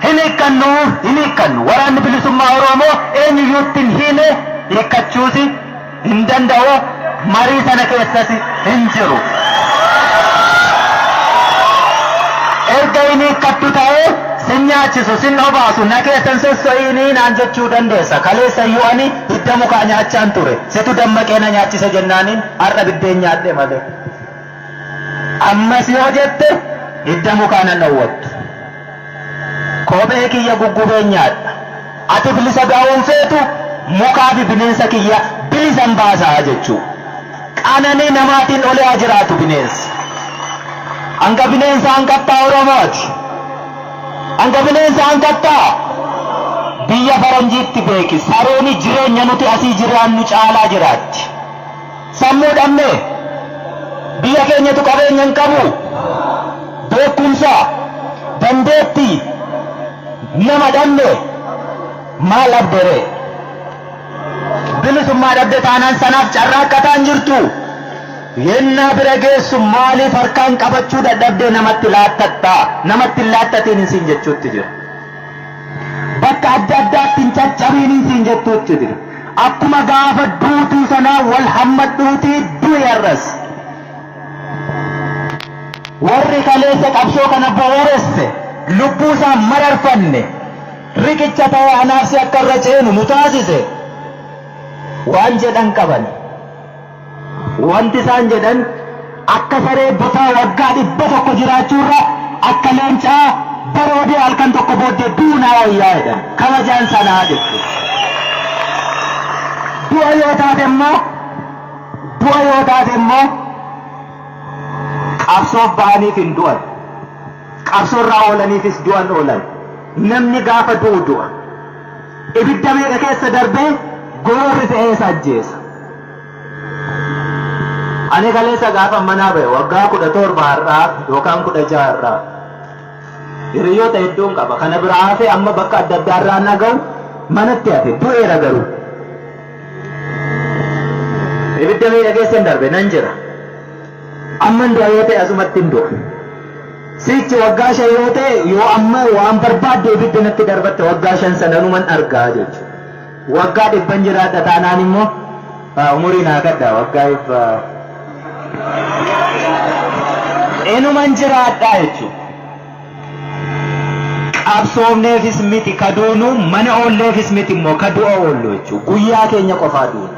Hin hiikkannu! Hin hiikkannu! Waraanni Bilisummaa Oroomoo eenyuyyuutti hin hiine, hiikkachuusi hin danda'u, marii sana keessasi hin jiru. Erga hin hiikkattu ta'ee sin nyaachisu, sin obaasu, na keessa hin sosso'iini naan jechuu dandeessa. Kaleessayyuu ani hidda mukaa nyaachaan ture. Situ dammaqee na nyaachise jennaaniin har'a biddeen nyaadhe malee. Ammas yoo jette hidda mukaa nan dhowwattu. Kophee kiyya guggubeen nyaadha. Ati bilisa ba'uu hin feetu, mukaa fi bineensa kiyya bilisan baasa jechuu. Qananii namaatiin olee haa jiraatu bineensi. Hanga bineensa hanqattaa Oromooti. Hanga bineensa hanqattaa biyya faranjiitti beeki. Sarooni jireenya nuti asii jiraannu caalaa jiraatti. Sammuu dhabne. Biyya keenyatu qabeenya hin qabu. Beekumsa, dandeetti nama dhabne. Maal dhabde ree? Bilisummaa dhabde taanaan sanaaf carraaqqataa hin jirtu. Yennaa bira geessu maaliif harkaan qabachuu dadhabdee namatti laattatta? Namatti hin laattatiin hin siin jechuutti jira. bakka adda addaatti hin caccabiinii siin jettuutti jira. Akkuma gaafa duutuu sanaa wal hammadhuutii du'i har'as. Warri kaleessa qabsoo kana bu'uuresse lubbuu isaa mararfanne riqicha ta'ee anaafsi akka irra ceenu nu taasise waan jedhan qaban. Wanti isaan jedhan akka saree botaa waggaa 100 jiraachuurra akka leencaa baroodee halkan tokko booddee du'uu naa wayyaa jedhan. Kabajaan sanaa jechuudha. Du'a yoo taate immoo du'a yoo taate immoo qabsoof ba'aniif hin du'an. Qabsoorraa oolaniifis du'an oolan. Namni gaafa du'u du'a. Ibidda meeqa keessa darbee gororri fe'ee isa ajjeesa. Ani kaleessa gaafa manaa ba'e waggaa kudha torba har'aa yookaan kudha jaha har'aa hiriyoota hedduun qaba. Kana biraa hafee amma bakka adda addaa irraa na ga'u manatti hafe du'eera garuu. Ibidda meeqa keessa hin darbe nan jira. Amman du'a yoo ta'e asumattin du'a. Sichi waggaa shan yoo ta'e yoo amma waan barbaadde ibidda natti darbatte waggaa shan sananuman argaa jechuudha. Waggaa dhibban jiraadha taanaan immoo haa umurii naa kadhaa waggaa dhibba inuman jiraadhaa jechuudha. Qabsoofneefis miti ka duunu mana oolleefis miti immoo ka du'a oollu jechuudha. Guyyaa keenya qofaa duuna.